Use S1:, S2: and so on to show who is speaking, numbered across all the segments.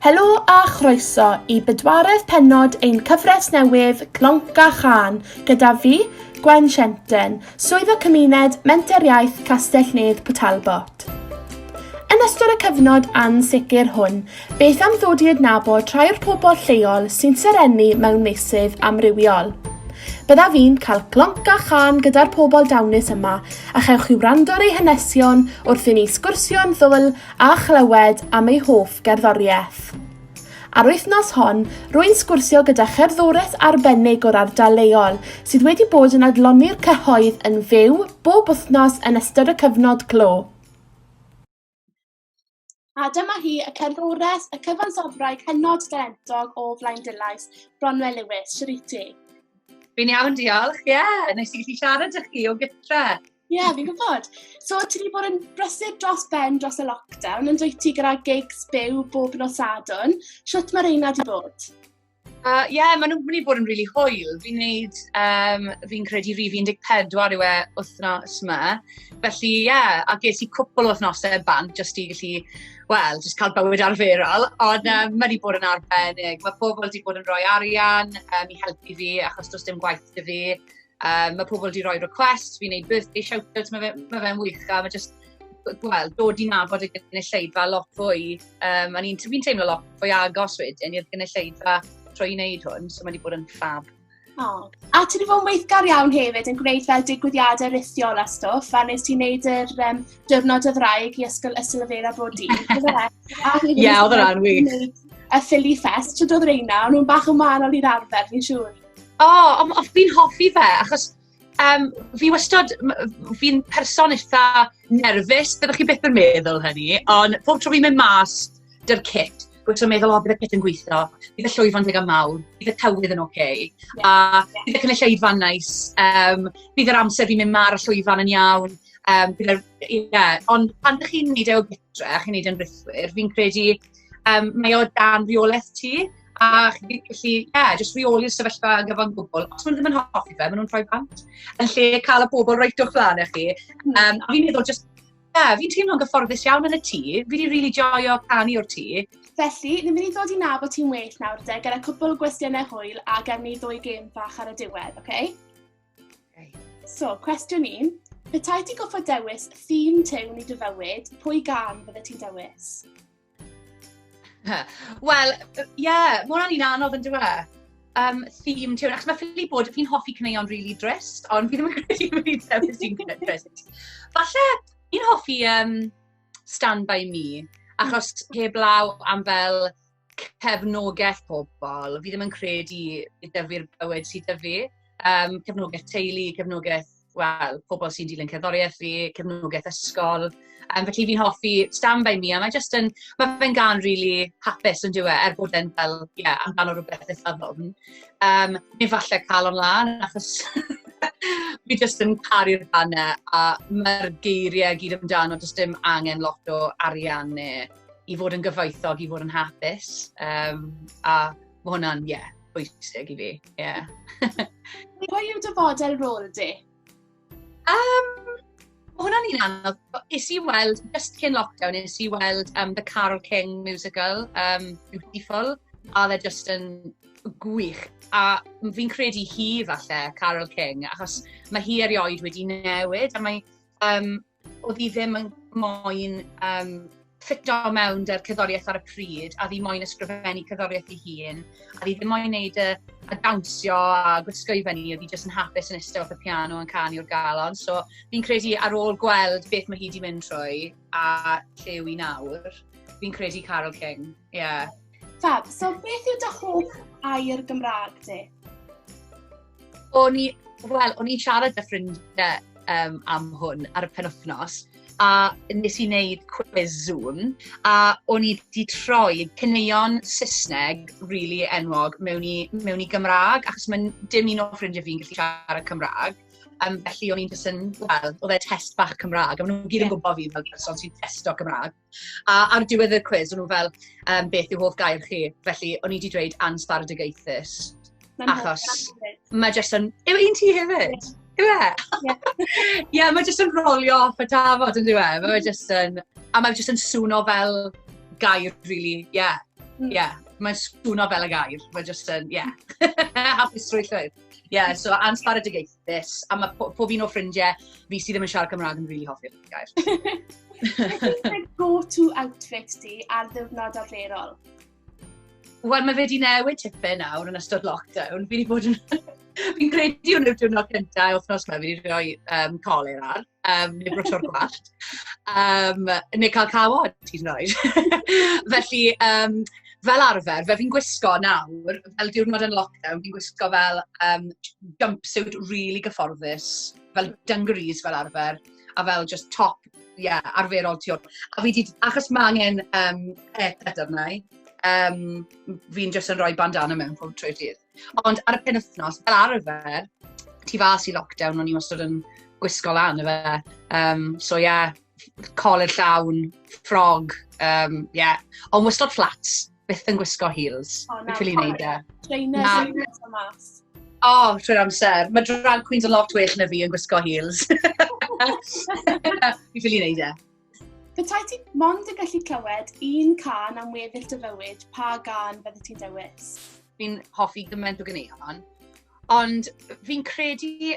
S1: Helo a chroeso i bedwaredd penod ein cyfres newydd Glonc a Chan gyda fi, Gwen Shenten, Swyddog Cymuned Menter Iaith Castell-nedd Port Talbot. Yn ystod y cyfnod ansicr hwn, beth am ddod i adnabod rhai o'r pobl lleol sy'n serennu mewn meysydd amrywiol? Byddaf fi'n cael glonc a chan gyda'r pobl dawnus yma a chewch i wrando ar ei hanesion wrth i ni sgwrsio am ddwl a chlywed am ei hoff gerddoriaeth. Ar wythnos hon, rwy'n sgwrsio gyda cherddores arbennig o'r ardal leol sydd wedi bod yn adloni'r cyhoedd yn fyw bob wythnos yn ystod y cyfnod clo. A dyma hi, y cerddores, y cyfansoddwraig hynod dalentog o Flaen Dillais, Bronwe Lewis. Siwr i ti? Fi'n iawn,
S2: diolch. Ie, yeah, nes i gallu siarad â chi o gytre. Ie, yeah, fi'n gwybod.
S1: So, ti wedi bod yn brysur dros ben dros y lockdown, yn dweud ti gyda gigs byw bob nos adwn. Siwt mae reina di bod? Uh, yeah,
S2: maen nhw'n mynd i bod yn rili really hwyl. Fi'n neud, um, fi'n credu rif 14 yw e wythnos yma. Felly, ie, yeah, a ges i cwpl o wythnosau bant, jyst i gallu, wel, jyst cael bywyd arferol. Ond um, maen nhw bod yn arbennig. Mae pobl wedi bod yn rhoi arian um, i helpu fi, achos does dim gwaith dy fi. Um, mae pobl wedi rhoi request, fi'n neud birthday shout-out, mae fe'n ma fe wych. A mae just, gweld, dod i nabod y gynulleidfa lot fwy. Um, a ni'n fi teimlo lot fwy agos wedyn i'r gynulleidfa trwy wneud hwn, so mae wedi bod yn ffab. Oh. A
S1: ti'n fawr weithgar iawn hefyd yn gwneud fel digwyddiadau rithiol a stwff, a nes ti'n neud yr um, diwrnod o ddraig i ysgol Ysilfera bod di. Ie,
S2: oedd yna'n wych. Y Philly
S1: Fest, tyd oedd reina, ond nhw'n bach yn wahanol i'r arfer, fi'n siŵr. O, oh, fi'n
S2: hoffi fe, achos Um, fi wastad, fi'n person eitha nerfus, byddwch chi byth yn meddwl hynny, ond pob tro fi'n mynd mas dy'r cit, bod ti'n meddwl, o, bydd y cit yn gweithio, bydd y llwyfan digon mawr, bydd y tywydd yn oce, okay, yeah. a bydd y cynulleidfa'n nais, um, bydd yr amser fi'n mynd mar y llwyfan yn iawn, um, bydd yr, yeah. ond pan ydych chi'n neud e o gytre, chi'n neud e'n rithwyr, fi'n credu, um, mae o dan rheolaeth ti, A chi'n gallu, ie, yeah, jyst reoli'r sefyllfa yn gyfan gwbl. Os maen nhw ddim yn hoffi fe, maen nhw'n rhoi bant. Yn lle cael y pobl reit o'ch flan eich chi. Um, hmm. a fi'n meddwl, jyst, ie, yeah, fi'n teimlo'n gyfforddus iawn yn y tŷ. Fi wedi really joio canu o'r tŷ. Felly, ni'n mynd i
S1: ddod i nabod ti'n well nawr de, gyda cwpl o gwestiynau hwyl a gen ni ddwy gêm fach ar y diwedd, oce? Okay? Okay. So, cwestiwn un. Petai ti goffa dewis theme tewn i dy fywyd, pwy gan fydde ti'n dewis?
S2: Wel, ie, yeah, mae hwnna'n un anodd yn dweud. E? Um, theme tune, achos mae ffili bod, fi'n hoffi cyneuon really drist, ond fi ddim yn credu bod fi'n tebyg sy'n cyneuon drist. Falle, fi'n hoffi um, Stand By Me, achos heblaw am fel cefnogaeth pobl, fi ddim yn credu i dyfu'r bywyd sydd dyfu. Um, cefnogaeth teulu, cefnogaeth wel, pobl sy'n dilyn cerddoriaeth fi, cefnogaeth ysgol. Um, felly fi'n hoffi Stand By Me, a mae just yn, mae fe'n gan really hapus yn diwe, er bod e'n fel, ie, yeah, amdano rhywbeth eitha ddofn. Um, neu falle cael o'n lan, achos fi just yn caru'r banna, a mae'r geiriau gyd amdano, just dim angen lot o arian neu i fod yn gyfoethog, i fod yn hapus. Um, a Mae hwnna'n, ie, yeah, bwysig i fi. Yeah.
S1: Pwy yw dy fodel rôl di? Um,
S2: hwnna'n un anodd. Is i weld, just cyn lockdown, is i weld um, The Carol King musical, um, Beautiful, a dde just yn gwych. A fi'n credu hi falle, Carol King, achos mae hi erioed wedi newid, a mae um, Oedd hi ddim yn moyn um, ffito mewn dy'r cyddoriaeth ar y pryd, a fi moyn ysgrifennu cyddoriaeth i hun, a fi ddim moyn neud y, y dawnsio a gwisgo i fyny, a fi jyst yn hapus yn eistedd wrth y piano yn canu o'r galon. So fi'n credu ar ôl gweld beth mae hi wedi mynd trwy a lle yw i nawr, fi'n credu Carol King, ie. Yeah. Fab,
S1: so beth yw dy hoff air Gymraeg di?
S2: O'n i, wel, o'n i'n siarad â ffrindiau um, am hwn ar y penwthnos, a nes i wneud quiz Zoom, a o'n i wedi troi cyneuon Saesneg rili really enwog mewn i, mewn i Gymraeg, achos mae'n dim un o ffrindiau fi'n gallu siarad Cymraeg. Um, felly o'n i'n jyst yn, wel, oedd e test bach Cymraeg, a maen nhw'n gyd yn gwybod fi fel person sy'n testo Cymraeg. A ar diwedd y cwiz, o'n nhw fel, um, beth yw hoff gair chi? Felly, o'n i wedi dweud ansbardugaethus. Achos, mae jyst yn... Yw un ti hefyd? Yw e? Ie, mae jyst yn rolio off y tafod yn dweud. E? Mae jyst yn... A mae jyst yn swno fel gair, really. Ie, yeah. Mm. ie. Yeah. Mae'n swno fel y gair. Mae jyst yn, ie. Yeah. Hapusrwydd llwyr. Ie, yeah, so ansbardugaethus. ffodus. A mae po, pob un o ffrindiau fi sydd ddim yn siarad Cymraeg yn rili really hoffi'r gair.
S1: Mae go-to outfit di ar ddiwrnod arferol?
S2: Wel, mae fe wedi newid tipyn nawr yn ystod lockdown. Fi wedi bod yn... Fi'n credu hwn yw'r diwrnod cyntaf o'r wythnos yma, fi wedi rhoi um, coler ar. um, neu brosio'r gwallt, um, neu cael cawod, ti'n rhoi. Felly, um, fel arfer, fe fi'n gwisgo nawr, fel diwrnod yn lockdown, fi'n gwisgo fel um, jumpsuit really gyfforddus, fel dungarees fel arfer, a fel just top, ie, yeah, arferol ti o'r... A fi di, achos mae angen um, haircut arna i, um, fi'n just yn rhoi bandana mewn pob trwy dydd. Ond ar y pen wythnos, fel arfer, ti fas i lockdown, o'n i wastad yn gwisgo lan, efe. Um, so ie, yeah, coled llawn, ffrog, um, ie. Yeah. Ond wastad flats, byth yn gwisgo heels. O, oh, na, Beth neud e? Trainers,
S1: o mas. O, oh, trwy'r
S2: amser. Mae drag queens yn lot well na fi yn gwisgo heels. Fi ffili neud e. Petai ti
S1: mond yn gallu clywed un can am weddill dy fywyd, pa gan fydde ti'n dewis? Fi'n hoffi
S2: gymaint o gyneuon, ond fi'n credu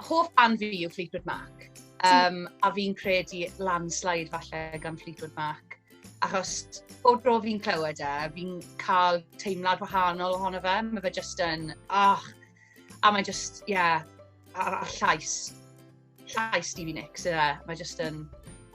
S2: hoff fan fi yw Fleetwood Mac. Um, a fi'n credu landslide falle gan Fleetwood Mac. Achos o dro fi'n clywed e, fi'n cael teimlad wahanol ohono fe. Mae fe jyst yn, ach, a mae jyst, ie, yeah, a'r llais llais Stevie Nicks, ie. Yeah. Mae jyst yn...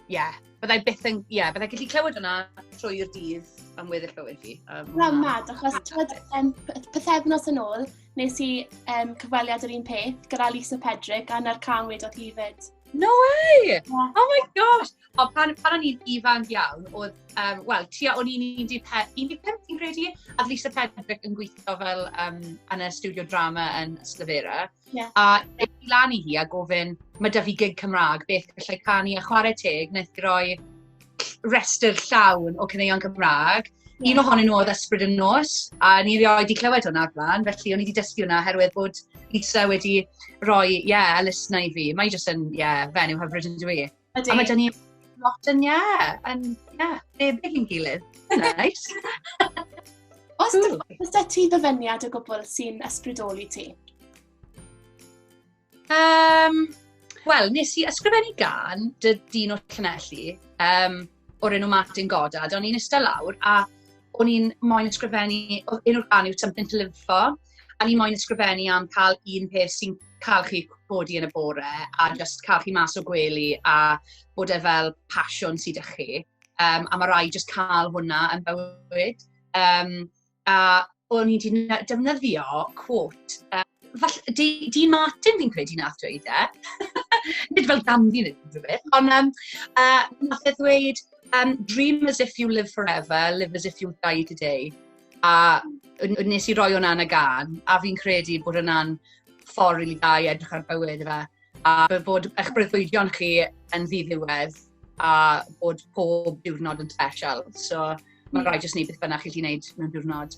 S2: Ie. Yeah. Byddai byth yn... Ie, yeah, byddai gallu clywed hwnna trwy'r dydd am weddill bywyd fi. Um, Na, mad, achos
S1: tywed, um, pethefnos yn ôl, nes i um, cyfweliad yr un peth gyda Lisa Pedrick a na'r can wedodd hi fyd. No way!
S2: Yeah. Oh my gosh! O, pan, pan o'n i'n ifanc iawn, oedd, um, wel, tua o'n i'n 15, i'n credu, a Lisa Pedrick yn gweithio fel um, yn y studio drama yn Slyfera. Yeah. A ei lan i hi a gofyn, mae da fi gig Cymraeg, beth gallai canu a chwarae teg, wnaeth groi restr llawn o cyneuon Cymraeg. Yeah. Un ohonyn nhw oedd ysbryd yn nos, a ni rioed wedi clywed hwnna o'r blaen, felly o'n i wedi dysgu hwnna oherwydd bod Lisa wedi rhoi, ie, yeah, elusna i fi. Mae jyst yn, ie, yeah, fenyw hyfryd yn dwi. Ydy. A mae gen i lot yn ia, yn ia, debyg i'n gilydd. Nice.
S1: Os dy, os dy ti ddyfyniad o gwbl sy'n ysbrydoli ti? Um,
S2: Wel, nes i ysgrifennu gan dy dyn o Llanelli. Um, o'r enw Martin Goddard, o'n i'n eistedd lawr a o'n i'n moyn ysgrifennu, oedd un o'r gan yw Something to Live For, a ni'n moyn ysgrifennu am cael un peth sy'n cael chi codi yn y bore a just cael chi mas o gwely a bod e fel pasiwn sydd â chi. Um, a mae rai just cael hwnna yn bywyd. Um, a o'n i 'di defnyddio quote, yy, falle, Dee, Dee Martin fi'n credu nath dweud e. Nid fel Ganddi neu unrhyw beth, ond um, uh, nath e ddweud, um, dream as if you live forever, live as if you die today. A nes i roi hwnna'n y gan, a fi'n credu bod hwnna'n ffordd rili da i edrych ar bywyd efe. A bod eich breuddwydion chi yn ddiddiwedd a bod pob diwrnod yn special. So, Mae'n rhaid jyst wneud beth bynnag chi wedi wneud mewn diwrnod.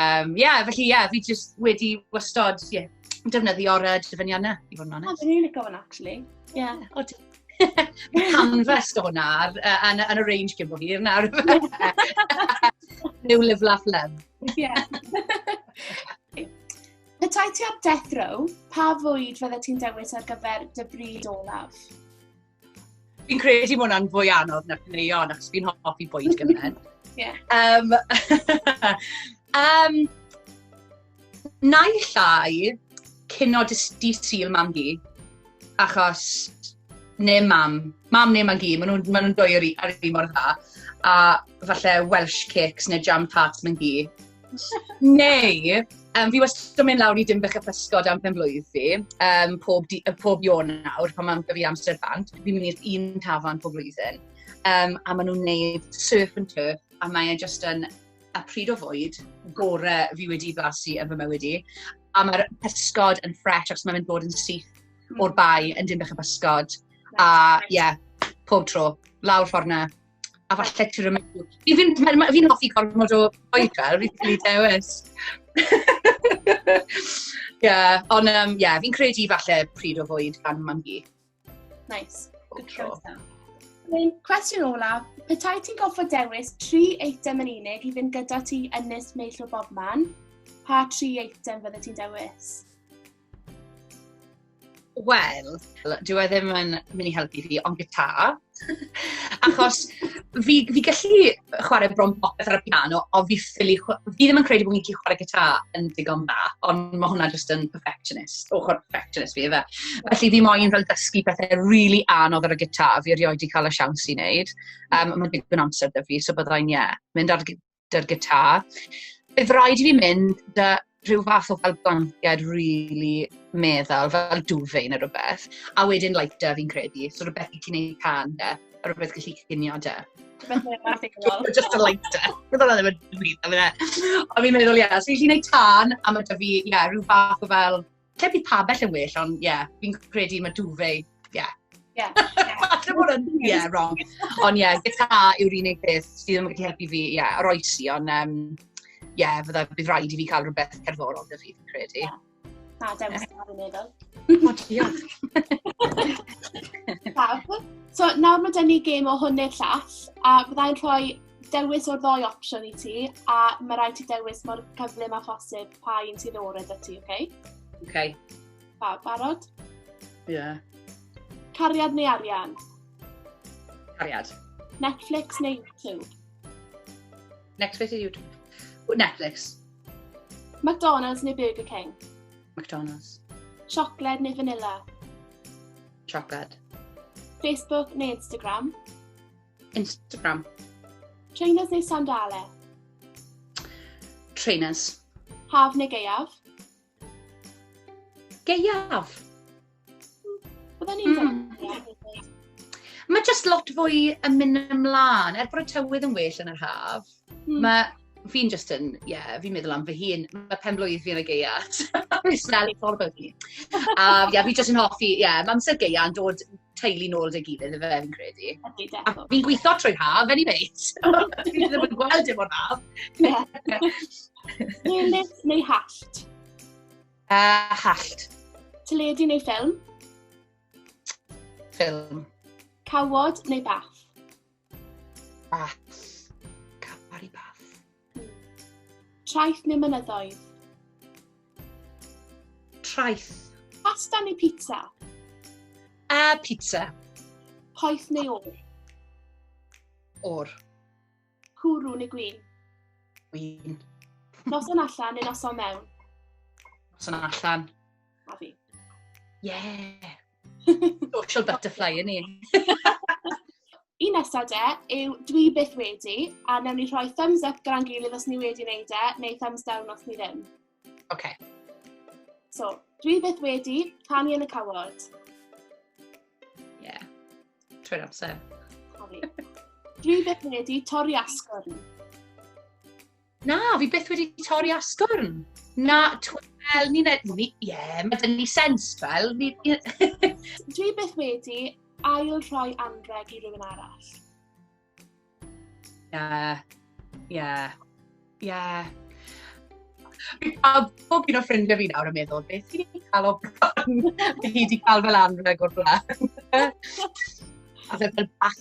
S2: Um, yeah, felly, yeah, fi jyst wedi wastod, yeah, defnyddio'r uh, dyfyniannau, i fod yn onest. Oh, dwi'n licio hwnna, actually.
S1: Yeah, o, Mae
S2: canfas o hwnna ar, yn, yn y range cyn bod hir nawr. New Live Laugh Love. Yeah.
S1: Petai ti ar death row, pa fwyd fydde ti'n dewis ar gyfer dy bryd olaf?
S2: Fi'n credu bod hwnna'n fwy anodd na'r caneuon, achos fi'n hoffi bwyd gymryd. yeah. Um, um, na i llai, cyn o di syl mam hi, achos ne mam, mam ne mam hi, maen nhw'n ma nhw dwy ar un mor dda, a falle Welsh cakes neu jam tarts mam hi, Neu, um, fi wastad yn mynd lawr i Dimbych y Pysgod am pen blwydd fi, um, pob, di, pob ion nawr, pan mae'n gyfi amser bant, fi'n mynd i'r un tafan pob blwyddyn. Um, a maen nhw'n neud surf and turf, a mae'n just yn y pryd o fwyd gore fi wedi blasu yn fy mywyd i. A mae'r pysgod yn ffres, achos mae'n mynd bod yn syth hmm. o'r bai yn Dimbych y Pysgod. A ie, yeah, pob tro, lawr ffordd na. a falle ti'n rhywbeth. Fi'n fi, fi, fi, fi hoffi gormod o oedra, fi'n cael ei dewis. yeah, ond um, yeah, fi'n credu falle pryd o fwyd gan mam
S1: hi.
S2: Nice. Good choice then. Mae'n
S1: cwestiwn olaf, petai ti'n goffa dewis tri eitem yn unig i fynd gyda ti yn nes meill o bob man, pa tri eitem fydde ti'n dewis?
S2: Wel, dyw e ddim yn mynd i helpu fi, ond gitar. Achos fi, fi gallu chwarae bron popeth ar y piano, ond fi, ffili, fi ddim yn credu bod fi'n gallu chwarae gitar yn digon da, ond mae hwnna jyst yn perfectionist, ochr perfectionist fi efe. Felly fi moyn fel dysgu pethau really anodd ar y gitar, fi erioed wedi cael y siawns i wneud. Um, mae'n digon amser da fi, so byddai'n, ie, yeah, mynd ar 'da'r gitar. Bydd rhaid i fi mynd 'da rhyw fath o fel blanced rili meddal, fel duvet neu rhywbeth, a wedyn lighter fi'n credu, so rhywbeth i ti wneud pan 'da, a rhywbeth gallu cinio 'da. Just a lighter. Bydd hwnna ddim yn dweud, a bydd e. Ond fi'n meddwl, ie, os fi'n gallu gwneud tân, a ma' 'da fi, ie, rhyw fath o fel Lle bydd pabell yn well, ond ie, yeah, fi'n credu mae duvet, ie. Yeah. Yeah. Falle bod yn, ie, yeah, wrong. Ond ie, yeah, gitar yw'r unig beth sydd ddim yn gallu helpu fi, ie, yeah, roi si, ond ie, um, yeah, fydda bydd rhaid i fi cael rhywbeth cerddorol da fi, fi'n credu. Yeah. Na, dewis yeah. ar y meddwl.
S1: O, diolch. Fab. So, nawr mae dyn ni gêm o hwn neu'r llall, a byddai'n rhoi dewis o'r ddoi opsiwn i ti, a mae rhaid ti dewis mor gyflym a phosib pa un sy'n orau da ti, oce? Okay? Oce. Okay.
S2: Pa, barod?
S1: Ie.
S2: Yeah.
S1: Cariad neu arian?
S2: Cariad. Netflix
S1: neu YouTube?
S2: Netflix neu YouTube? Netflix.
S1: McDonald's neu Burger King? McDonald's.
S2: Siocled
S1: neu vanilla?
S2: Siocled.
S1: Facebook neu Instagram?
S2: Instagram.
S1: Trainers neu sandale?
S2: Trainers. Haf neu geiaf? Geiaf.
S1: Bydden ni'n mm. Mae
S2: jyst lot fwy yn mynd ymlaen, er bod y tywydd yn well yn yr haf. Hmm. Mae fi'n just yn, ie, yeah, fi'n meddwl am fy hun, mae pen blwydd fi'n y geia. Fi'n sel i ffordd bod ni. A ie, yeah, fi just yn hoffi, ie, yeah, mae amser geia yn dod teulu nôl dy gilydd, efe fi'n credu. A fi'n gweithio trwy haf, any mate. Fi ddim yn gweld dim o'n haf.
S1: Newid neu hallt? Uh,
S2: hallt.
S1: Teledu neu ffilm?
S2: Ffilm. Cawod
S1: neu bath?
S2: Bats. Campari bats.
S1: Traeth neu mynyddoedd?
S2: Traeth. Pasta neu
S1: pizza? A
S2: pizza.
S1: Poeth neu o'r?
S2: O'r.
S1: Cwrw neu gwyn? Gwyn.
S2: Noson
S1: allan neu noson mewn? Noson
S2: allan. A fi.
S1: Yeah.
S2: Social butterfly yn un.
S1: Un nesaf de yw dwi byth wedi, a newn ni rhoi thumbs up gan gilydd os ni wedi wneud e, neu thumbs down os ni ddim. OK. So, dwi byth wedi canu yn y cawod. Ie. Yeah.
S2: Trwy'r amser.
S1: Dwi byth wedi torri asgwrn.
S2: Na, fi byth wedi torri asgwrn. Na, wel, ni'n edrych, ni, ie, yeah, mae dyn ni sens, fel. Ni,
S1: Dwi byth wedi ail rhoi anreg i rhywun arall. Ie,
S2: ie, ie. A bob un o ffrindiau fi nawr yn meddwl, beth ti wedi cael o bron? Fi wedi cael fel anreg o'r blaen. A fe fel bach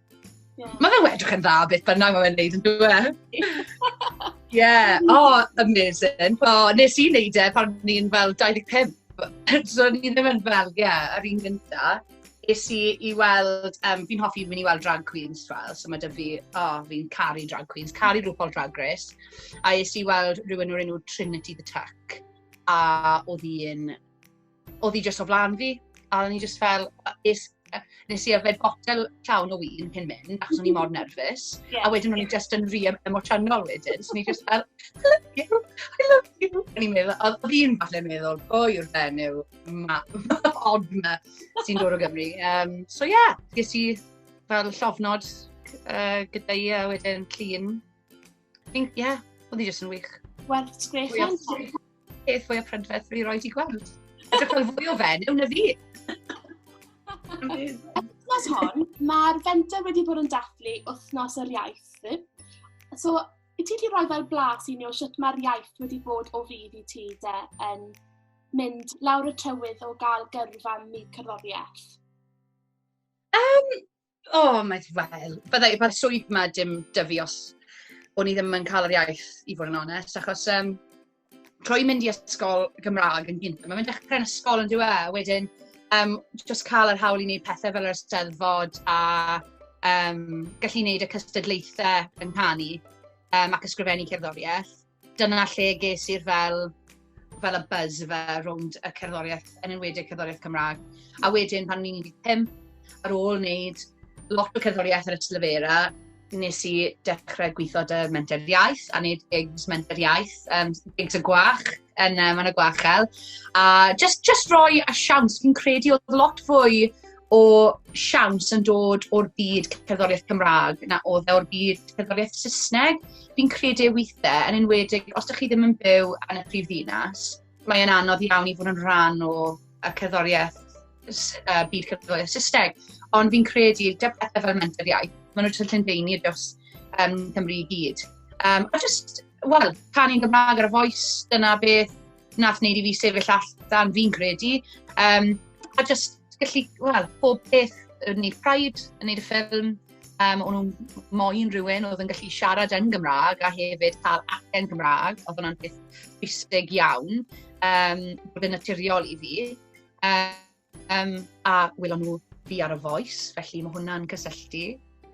S2: Mae fe wedrych yn dda beth bynnag mae fe'n neud yn dweud. E? Ie, o, amazing. O, nes i wneud e pan ni'n fel 25. so ni ddim yn fel, ie, yeah, yr un gynta. Nes i i weld, um, fi'n hoffi mynd i weld drag queens fel, so mae dy fi, o, oh, fi'n caru drag queens, caru rhywbeth drag race. A nes i weld rhywun o'r enw Trinity the Tuck, a oedd hi'n Oedd hi jyst o flan fi, a o'n i jyst fel, is, nes i yfed botel llawn o wyn cyn mynd, achos o'n i mor nerfus, yeah. a wedyn o'n i jyst yn rhi emosiynol wedyn, so o'n i jyst fel, I love you, I love you. O'n i'n meddwl, oedd hi'n falle meddwl, bo yw'r fenyw, ma, ma, od ma, sy'n dod o Gymru. Um, so ie, yeah, ges i fel llofnod uh, gyda i a wedyn clean Ie, yeah, oedd hi jyst yn wych. Wel, it's great.
S1: Beth fwy
S2: o prydferth fi roi di gweld. Dwi'n cael fwy o fen, yw na fi. Wythnos
S1: hon, mae'r fenter wedi bod yn dathlu wythnos yr iaith. So, i ti wedi rhoi fel blas i ni o sut mae'r iaith wedi bod o fydd i ti de yn mynd lawr y tywydd o gael gyrfa mi cerddoriaeth? Um,
S2: O, mae... wel, fydda i... mae'r swydd 'ma dim 'da fi os o'n i ddim yn cael yr iaith, i fod yn onest. Achos yym, trwy mynd i ysgol Gymraeg yn gynta', mae fe'n dechrau'n ysgol yndyw e, a wedyn yym jyst cael yr hawl i wneud pethe fel yr Eisteddfod a yym gallu wneud y cystadlaethau yng nghanu yym ac ysgrifennu cerddoriaeth. Dyna lle ges i'r fel, fel y buzz fe rownd y cerddoriaeth, yn enwedig cerddoriaeth Cymraeg. A wedyn pan ni'n 15, ar ôl wneud lot o cerddoriaeth ar y Tlefera, nes i dechrau gweithio dy menter iaith a wneud gigs menter iaith, um, gigs y gwach yn um, yn y gwachel. A just, just roi a siawns, fi'n credu oedd lot fwy o siawns yn dod o'r byd cerddoriaeth Cymraeg na oedd e o'r byd cerddoriaeth Saesneg. Fi'n credu ei weithiau, yn enwedig os ydych chi ddim yn byw yn y prif ddinas, mae'n anodd iawn i fod yn rhan o y cerddoriaeth uh, byd cerddoriaeth Saesneg. Ond fi'n credu, dy pethau fel mentor iaith, maen nhw'n tyllu'n deini dros um, Cymru i gyd. Um, a just, wel, canu'n Gymraeg ar y foes, dyna beth nath wneud i fi sefyll allan, fi'n credu. Um, a just gallu, wel, pob peth yn wneud Pride, yn wneud y ffilm, um, o'n nhw'n moyn rhywun oedd yn gallu siarad yn Gymraeg a hefyd cael acen Gymraeg, oedd hwnna'n peth bwysig iawn, um, bod yn naturiol i fi. Um, Um, a wylo nhw fi ar y Voice, felly mae hwnna'n cysylltu.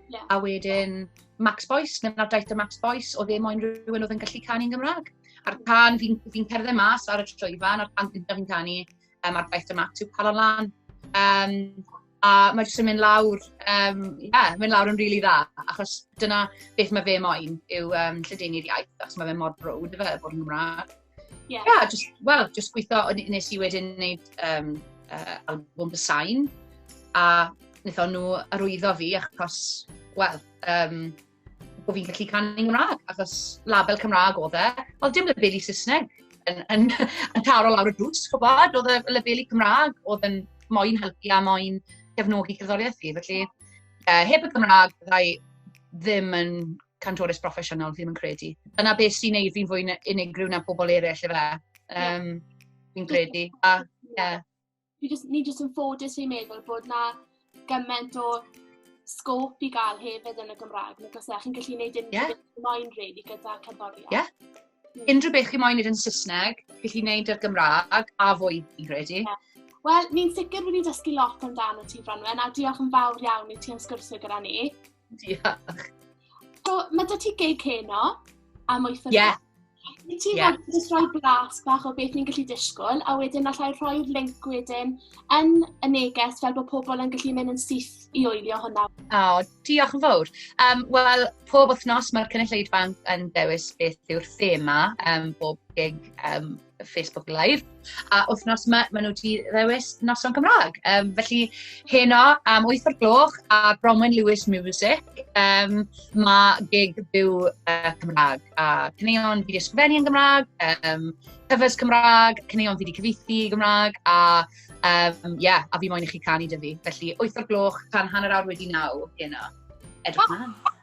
S2: Yeah. A wedyn, Max Boyce, neu nawr daeth y Max Boyce, o ddim o'n rhywun oedd yn gallu canu'n Gymraeg. A'r can, fi'n fi cerdded mas ar y trwyfan, a'r can gyntaf fi'n canu, um, a'r daeth y Max yw Palon Lan. Um, a mae jyst yn mynd lawr, um, yeah, mynd lawr yn rili really dda, achos dyna beth mae fe moyn yw um, lledenu'r iaith, achos mae fe mor brwd, fe, bod yn Gymraeg. Yeah. yeah, just, well, just gweithio, nes i wedyn wneud um, uh, album The Sign, a wnaeth nhw arwyddo fi achos, wel, um, bod fi'n gallu canu yn Gymraeg, achos label Cymraeg oedd e. Oedd dim labeli Saesneg yn, yn, yn taro lawr y drws, chwbod, oedd y labeli Cymraeg oedd yn moyn helpu a moyn gefnogi cerddoriaeth fi. Felly, uh, heb y Cymraeg, byddai ddim yn cantores broffesiynol, ddim yn credu. Dyna beth sy'n neud fi'n fwy unigryw na pobl eraill, efe. Um, fi'n credu. A, yeah.
S1: Ni jyst, ni jyst yn ffodus i'n meddwl bod na gymaint o sgôp i gael hefyd yn y Gymraeg. Nid os chi'n gallu gwneud unrhyw yeah. beth moyn rili gyda cerddoriaeth. Yeah. Mm. Unrhyw beth
S2: chi'n moyn wneud yn Saesneg, chi'n gwneud i'r Gymraeg a fwy, fi'n credu. Yeah. Wel, ni'n
S1: sicr wedi dysgu lot amdano ti, Fronwen, a diolch yn fawr iawn i ti am sgwrsio gyda ni. Diolch.
S2: So,
S1: mae dy ti gig heno am oeth o yeah. Wyt ti'n yeah. fod yn rhoi blas bach o beth ni'n gallu disgwyl, a wedyn allai rhoi'r link wedyn yn y neges fel bod pobl yn gallu mynd yn syth i oelio hwnna. O, oh, diolch yn
S2: fawr. Um, Wel, pob wythnos mae'r cynulleidfa yn dewis beth yw'r thema um, bob gig um, Facebook Live. A wythnos yma, maen nhw wedi ddewis noson Cymraeg. Um, felly, heno am 8 o'r gloch a Bronwyn Lewis Music, um, mae gig byw uh, Cymraeg. A cyneuon fi wedi ysgrifennu yn Gymraeg, um, cyfres Cymraeg, cyneuon fi wedi cyfeithi i Gymraeg, a um, yeah, a fi moyn i chi canu dy fi. Felly, 8 o'r gloch, tan hanner awr wedi naw heno. Edrych oh.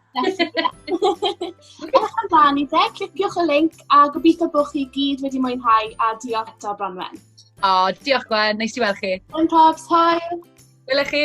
S1: Ewch amdani de, cliciwch y link a gobeithio bod chi gyd wedi mwynhau a diolch eto Bronwen. O, oh, diolch
S2: Gwen, neis
S1: i weld chi.
S2: Gwen Pops, hoi! Wyle chi!